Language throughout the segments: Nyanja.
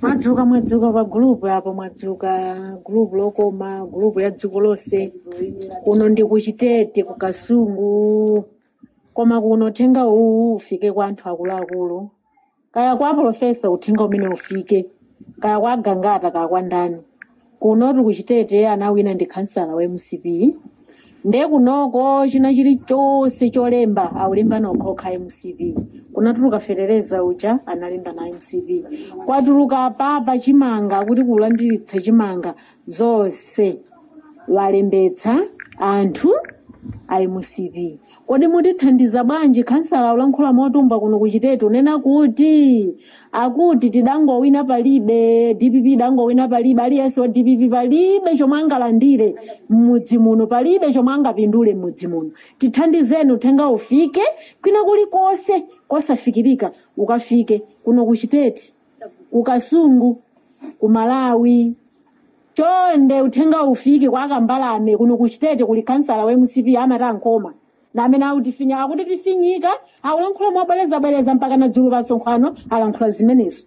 mwadzuka mwadzuka pa gulupu apo mwadzuka gulupu lokoma gulupu la dziko lonse kuno ndi kuchitete ku kasungu koma kuno uthenga uwu ufike kwa anthu akuluakulu kaya kwa profesa uthenga umenewu ufike kaya kwa agangata kaya kwa ndani kunotu kuchitete anawina ndi khansala wa mcp nde kunoko china chili chonse cholemba akulemba okhaokha a mcp kunatuluka fetereza uja analemba na mcp kwatuluka papa chimanga kuti kulandiritsa chimanga zonse walembetsa anthu a mcp Kodi mutithandiza bwanji khansala akulankhula motumbwa kuno ku Chitete akunena kuti akuti tidangowina palibe DPP idangowina palibe aliyense wa DPP palibe chomwe angalandire m'mudzi muno palibe chomwe angapindule m'mudzi muno tithandizeni uthenga ufike kwina kulikonse kosafikirika ukafike kuno ku Chitete ku kasungu ku malawi chonde uthenga ufike kwa akambalame kuno ku chitete kuli kansala wa mcp amati a nkhoma na amene akutifinya akuti tifinyika akulankhula mobwerezabwereza mpaka na dzulo pa msonkhano alankhula zimenezo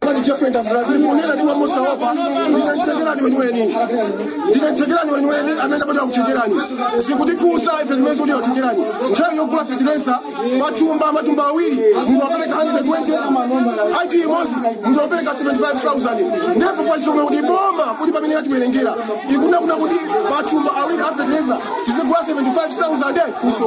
Kodi Jeffrey Ndazira ndimunena ndiwe mosaopa ndinamtengera niwe niweni ndinamtengera niwe niweni amene mbado akutengerani zikutikuza ife zimene zikuti akutengerani nthawi yogula fetilesa matumba matumba awiri munthu wapereka 120 ID imodzi munthu wapereka 75000 ndipo kwa chomwe kuti boma kuti pamene yatiwerengera ikunena kunena kuti matumba awiri a fetilesa tizigula 75000 kuso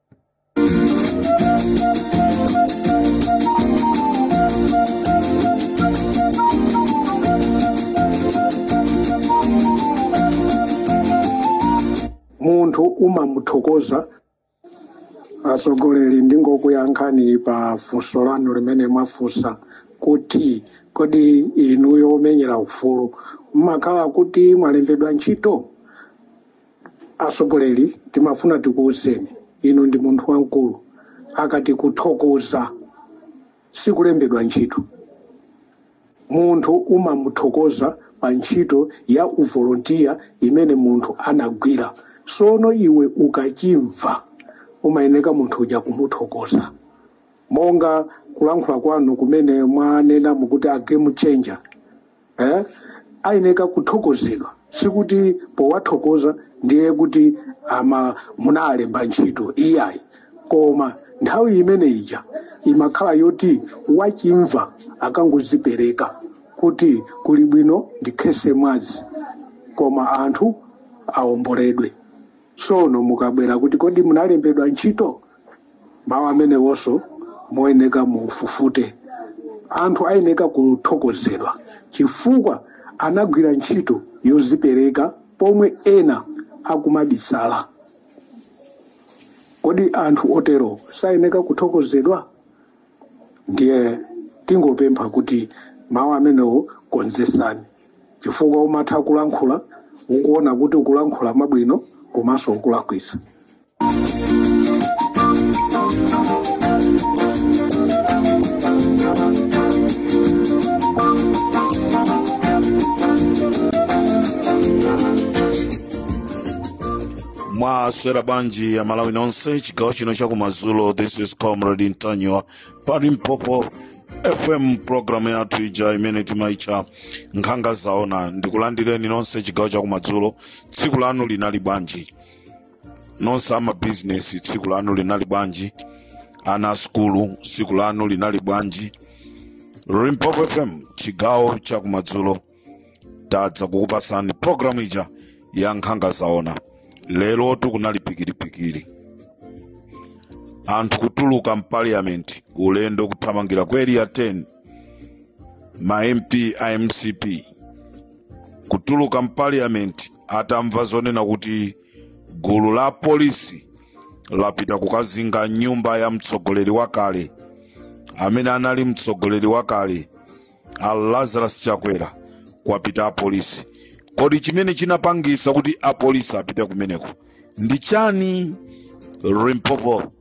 munthu umamuthokoza atsogoleri ndingokuyankhani pa funso lanu limene mwafunsa kuti kodi inuyo omenyera ufulu mmakhala kuti mwalembedwa ntchito atsogoleri timafuna tikuuzeni inu ndi munthu wamkulu akati kuthokoza sikulembedwa ntchito munthu umamuthokoza pa ntchito ya uvolontiya imene munthu anagwira sono iwe ukachimva umayeneka munthu uja kumuthokoza monga kulankhula kwanu kumene mwanena mukuti a game changer eh, ayeneka kuthokozedwa sikuti powathokoza ndiye kuti ama munalemba ntchito iyayi koma nthawi imene ija imakhala yoti wachimvano akangozipereka kuti kuli bwino ndikhese mwazi koma anthu aomboledwe tsono mukabwera kuti kodi munalembedwa ntchito mawu amenewonso muyeneka mufufute anthu ayeneka kuthokozedwa chifukwa anagwira ntchito yozipereka pomwe ena akumabisala kodi anthu otero sayeneka kuthokozedwa ndiye tingopempha kuti mawu amenewo konzesani chifukwa umatha kulankhula ukuona kuti ukulankhula zabwino komanso ukulakwisa mwaswera bwanji amalawi nonse chigawo chino chakumadzulo this is comrade ntanyiwa pa limpopo fm programu yathu ija imene timaitcha nkhanga zaona ndikulandireni nonse chigawo chakumadzulo tsiku lanu linali bwanji nonse amabizinesi tsiku lanu linali bwanji ana a sukulu tsiku lanu linali bwanji limpopo fm chigawo cha kumadzulo tadza kukupasani programu ija ya nkhanga zaona lerotu kunali pikiripikiri anthu kutuluka mpaliyamenti ulendo kuthamangira ku area 10 ma mp a mcp kutuluka mpaliyamenti atamva zonena kuti gulu la polisi lapita kukazinga nyumba ya mtsogoleri wakale amene anali mtsogoleri wakale a lazarus chakwera kwapita apolisi kodi chimene chinapangisa kuti apolisi apite kumeneko ndi chani limpopo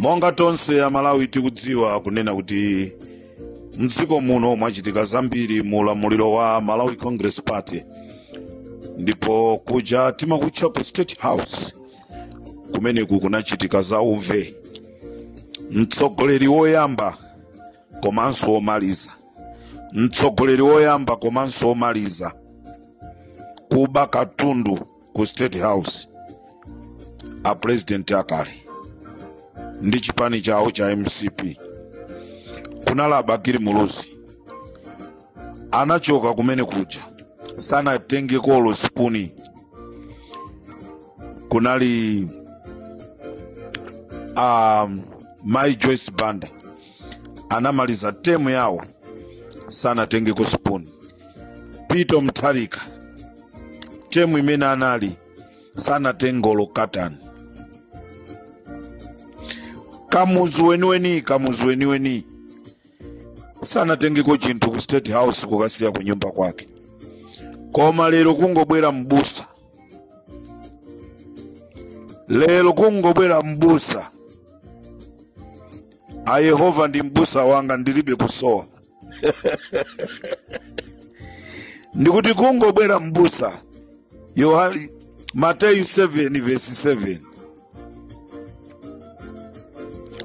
monga tonse amalawi tikudziwa kunena kuti mdziko muno mwachitika zambiri mu ulamuliro wa malawi congress party ndipo kuja timakutcha ku state house kumene kukunachitika za uve mtsogoleri woyamba komanso omaliza mtsogoleri woyamba komanso omaliza kuba katundu ku state house a president akale ndi chipani chawo cha mcp kunali a bakili muluzi anachoka kumene kuja sanatengeko olo sipuni kunali mai joyce banda anamaliza temu yawo sanatengeko spoon peter mutharika temu imene anali sanatenge olo katani kamuzu weniweni kamuzu weniweni sanatengeko chinthu ku state house kukasiya ku nyumba kwake koma lero kungobwera mbusa lero kungobwera mbusa a yehova ndi m'busa wanga ndilibe kusowa ndikuti kungobwera m'busa mateyu 7 vesi 7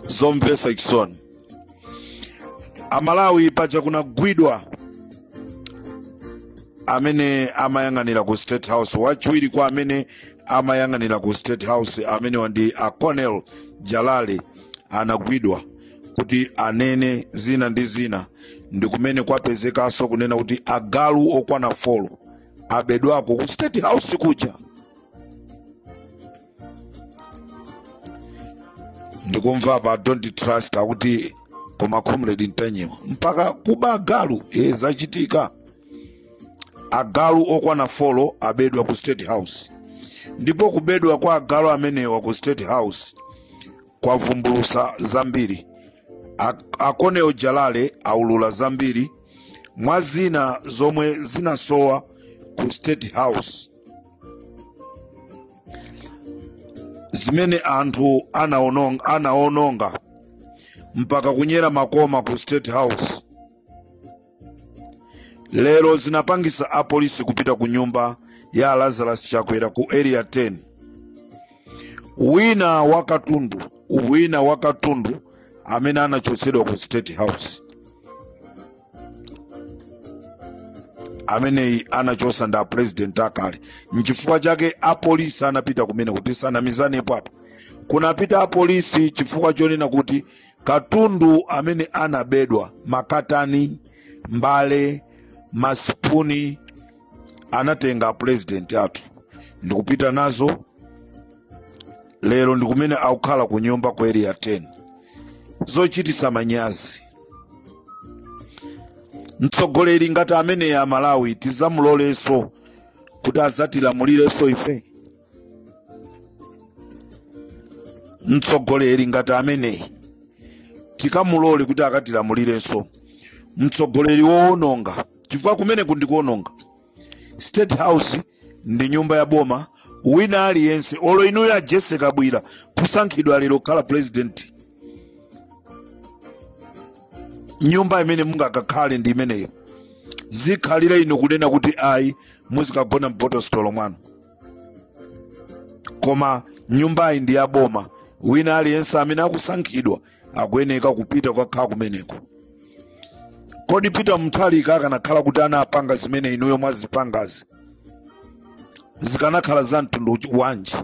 zomvetsa chisoni amalawi paja kunagwidwa amene amayang'anira ku state house wachiwiri kwa amene amayang'anira ku state house amenewa ndi a colonel jalale anagwidwa kuti anene zina ndi zina ndi kumene kwapezekanso kunena kuti agalu okwana folo abedwako ku state house kuja ndikumva pa don't trust akuti koma comrade ntanyiwa mpaka kuba agalu e zachitika agalu okwana folo abedwa ku state house ndipo kubedwa kwa agalu amenewa ku state house kwavumbulutsa zambiri a colonel jalale aulula zambiri mwa zina zomwe zinasowa ku state house zimene anthu anaononga mpaka kunyera makoma ku state house lero zinapangitsa apolisi kupita ku nyumba ya lazarus chakwera ku area 10 wina wina wa katundu amene anachotsedwa ku state house amene anachotsa ndi apresident akale nchifukwa chake apolisi anapita kumene kuti tisanamizanepo apa kunapita apolisi chifukwa chonena kuti katundu amene anabedwa makatani mbale masipuni anatenga apulezidenti athu ndikupita nazo lero ndikumene akukhala ku nyumba ku area 10 zochitisa manyazi mtsogoleri ngati ameneyi amalawi tizamulolenso kuti azatilamulirenso ife mtsogoleri ngati ameneyi tikamulole kuti akatilamulirenso mtsogoleri wowononga chifukwa kumeneku ndi kuwononga state house ndi nyumba ya boma wina aliyense olo inuyo a jesse kabwira kusankhidwa lero kukhala president nyumba imene mungakakhale ndi imeneyo sizikhalira inu kunena kuti ayi muzikagona m'botositolo mwanu koma nyumbayi ndi ya boma wina aliyense amene akusankhidwa akuyeneka kupita kukakhala kumeneko kodi peter mutharika akanakhala kuti anapanga zimene inuyo mwazipangazi zikanakhala za mtundu wanji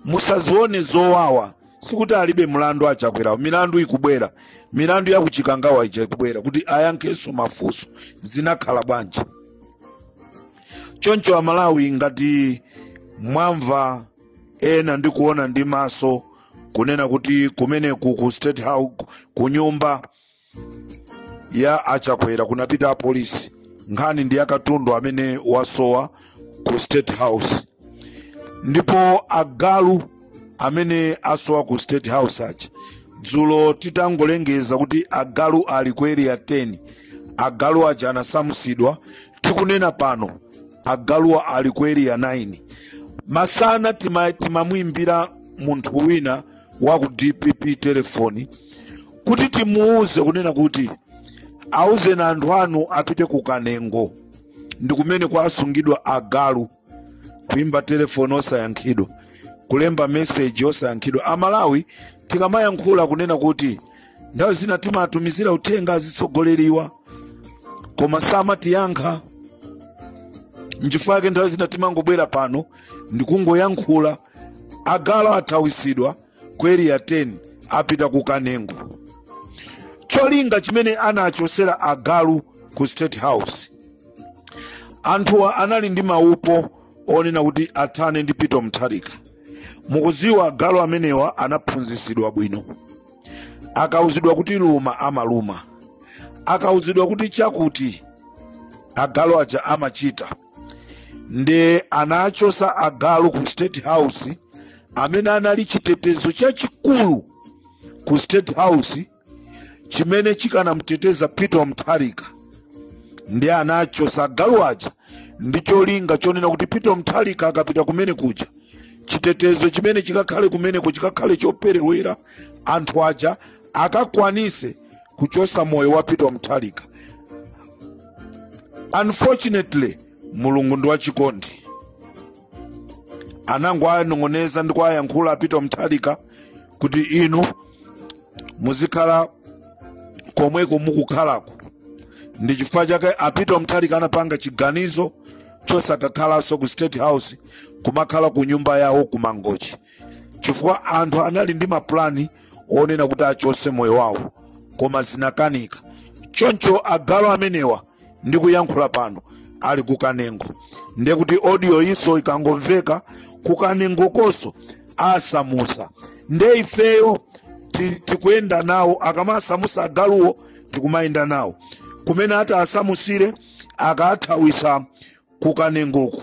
musazione zowawa sikuti alibe mlandu a chakwerawo milandu ikubwera milandu ya ku chikangawa ija ikubwera kuti ayankhenso mafunso zinakhala bwanji choncho amalawi ngati mwamva ena ndi kuona ndi maso kunena kuti kumeneku ku state house ku nyumba ya a chakwera kunapita apolisi nkhani ndi ya katundu amene wasowa ku state house ndipo agalu amene asowa ku state house aja dzulo titangolengeza kuti agalu ali ku area 10 agalu aja anasamusidwa tikunena pano agaluwa ali ku area 9 masana timamuimbira munthu wina wa ku dpp telefoni kuti timuuze kunena kuti auzeni anthu anu apite ku kanengo ndi kumene kwasungidwa agalu kuimba telefoni osayankhidwa kulemba meseji osayankhidwa amalawi tikamayankhula kunena kuti nthawi zina timatumizira uthenga azitsogoleriwa koma samatiyankha nchifukwa chake nthawi zina timangobwera pano ndikungoyankhula agalu athawisidwa ku area 10 apita ku kanengo cholinga chimene anachosera agalu ku state house anthuwa anali ndi maupo onena kuti athane ndi peter mutharika mukudziwa agalu amenewa anaphunzitsidwa bwino akauzidwa kuti luma amaluma akauzidwa kuti chakuti agalu aja amachita nde anachosa agalu ku state house amene anali chitetezo chachikulu ku state house chimene chikanamteteza peter wamutharika ndi anachosa agalu aja ndi cholinga chonena kuti peter wamutharika akapita kumene kuja chitetezo chimene chikakhale kumeneko chikakhale choperewera anthu aja akakwanise kuchosa moyo wa peter mutharika unfortunately mulungu ndi wachikondi anangowanong'oneza ndikuwayankhula a peter mutharika kuti inu muzikhala komweko mukukhalako ndi chifukwa chake a peter mutharika anapanga chiganizo chosakakhalanso ku state house kumakhala ku nyumba yawo ku mangochi chifukwa anthu anali ndi mapulani onena kuti achose moyo wawo koma zinakanika choncho agalu amenewa ndikuyankhula pano ali ku kanengo ndiye kuti audio iso ikangomveka ku kanengokoso asamusa nde ifeyo ti- tikuyenda nawo akamasamusa agaluwo tikumayenda nawo kumene atawasamusire akathawisa ku kanengoko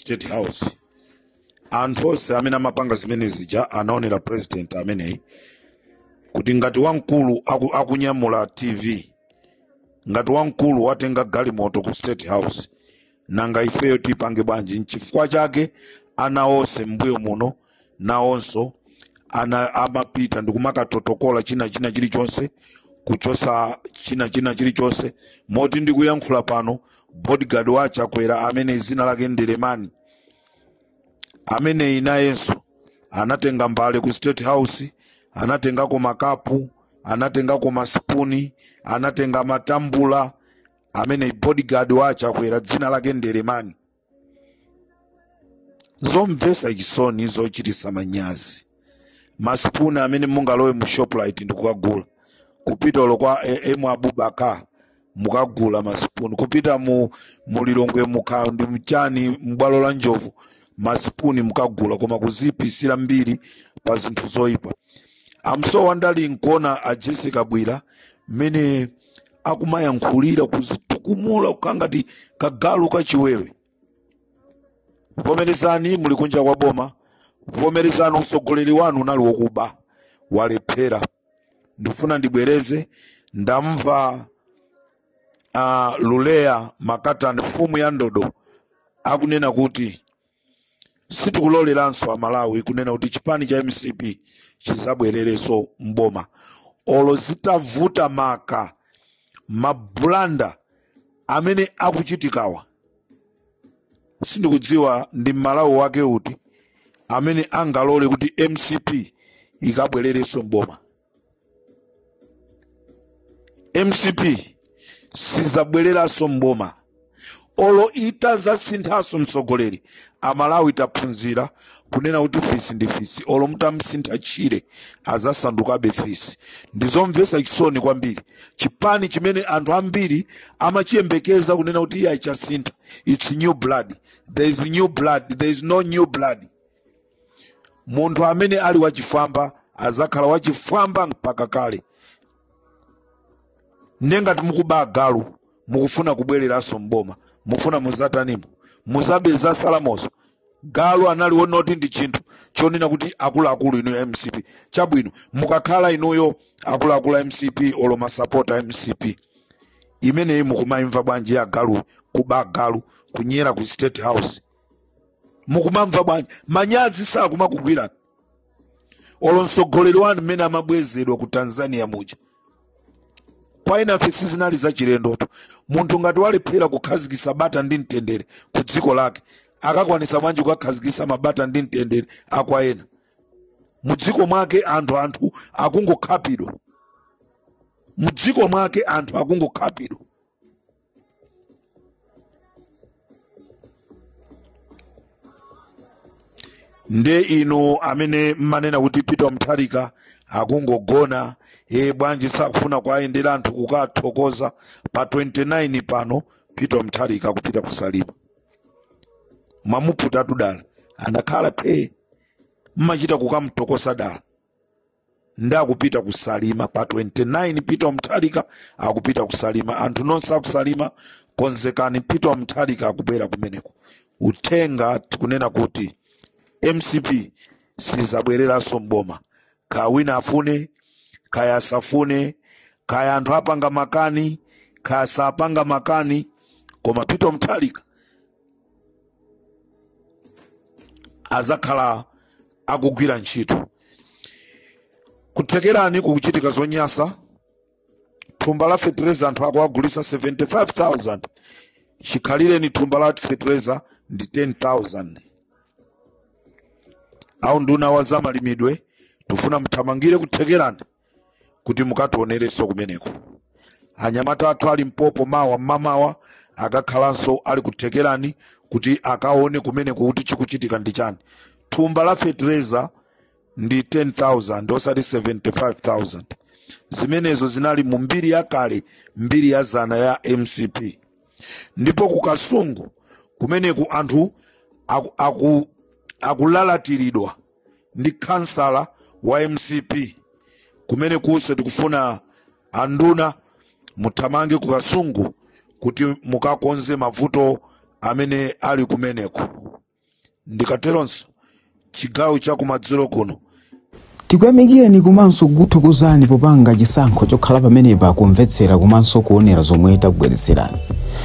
state house anthu onse amene amapanga zimene zija anaonera president ameneyi kuti ngati wamkulu aku, akunyamula tv ngati wamkulu watenga galimoto ku state house nanga ifeyo tipange bwanji nchifukwa chake anawo onse mbuyo muno nawonso amapita ndikumakatotokola china china chilichonse kuchosa china china chilichonse moti ndikuyankhula pano bodyguard wa chakwera ameneyi zina lake ndelemani ameneyi nayenso anatenga mbale ku state house anatengako makapu anatengako masipuni anatenga matambula ameneyi bodyguard wa chakwera dzina lake ndelemani zomvetsa chisoni zochititsa manyazi masipuni amene mungalowe mu shoprite ndikukagula kupita olo kwa eh, emu abubakar mukagula masipuni kupita mu mulilongwe mukha ndi mchani m'bwalo la njovu masipuni mukagula koma kuzipisira mbiri pa zinthu zoyipa amsowa ndali nkuona a jessie kabwila mmene akumayankhulira kuzitukumula kukhala ngati kagalu kachiwewe vomerezani muli kunja kwa boma vomerezani utsogoleri wanu unali wokuba walephera ndifuna ndibwereze ndamva uh, luleya makatani mfumu ya ndodo akunena kuti sitikuloleranso amalawi kunena kuti chipani cha mcp chizabwererenso mboma olo zitavuta maka mabulanda amene akuchitikawa sindikudziwa ndi mmalawi wake uti amene angalole kuti mcp ikabwererenso mboma mcp sizabwereranso mboma olo itazasinthanso mtsogoleri amalawi taphunzira kunena kuti fisi ndi fisi olo mutamsintha tchire azasandukabe fisi ndizomvetsa chisoni kwambiri chipani chimene anthu ambiri amachiyembekeza kunena kuti iye achasintha its new blood there is new blood there is no new blood munthu amene ali wachifwamba azakhala wachifwamba mpaka kale ndiye ngati mukuba galu mukufuna kubwereranso mboma mufuna muzatanimo muzabe za salamozo galu anali wonati ndi chinthu chonena kuti akuluakulu inuyo mcp chabwino mukakhala inuyo akuluakulu a mcp olo masapota a mcp imeneyi mukumayimva bwanji ya galu kuba galu kunyera ku state house mukumamva bwanji manyazi sakumakugwirani olo mtsogoleri wanu mmene amabwezedwa ku tanzania muja kwa enafe sizinali zachilendotu munthu ngati walephera kukhazikisa bata ndi mtendere ku dziko lake akakwanisa bwanji kukakhazikisa mabata ndi mtendere akwa ena mu dziko mwake anthu anthu akungokhapidwa mu dziko mwake anthu akungokhapidwa nde inu amene mmanena kuti peter mutharika akungogona e bwanji sakufuna kuayendera anthu kukathokoza pa 29 pano peter mutharika akupita kusalima mwamuputatu dala anakhala phee mmachita kukamtokosa dala ndi akupita kusalima pa 29 peter mutharika akupita kusalima anthu nonse akusalima konzekani peter mutharika akubwera kumeneko uthenga tikunena kuti mcp sizabwereranso mboma kaya wina afune kaya asafune kaya anthu apanga makani kaya sapanga makani koma peter mutharika azakhala akugwira ntchito kuthekerani kukuchitika zonyansa thumba la fetereza anthu akuwagulitsa 75000 chikhalireni thumba la fetereza ndi 10000 awu nduna wa zamalimidwe tufuna mthamangire kuthekerani kuti mukationerenso kumeneko anyamata athu ali mpopo mawa mmamawa akakhalanso ali ku Thekerani kuti akaone kumeneko kuti chikuchitika ndi chani thumba la fetereza ndi 10000 osati 75000 zimenezo zinali mu mbiri yakale mbiri ya dzana ya mcp ndipo ku kasungu kumeneku anthu aku- aku- akulalatiridwa ndi khansala wa mcp kumenekunso tikufuna anduna muthamange ku kasungu kuti mukakonze mavuto amene ali kumeneko ndikateronso chigawo cha kumadzulo kuno tikuyamikireni komanso kukuthokozani popanga chisankho chokhala pamenepa kumvetsera komanso kuonera zomwe takubweretserani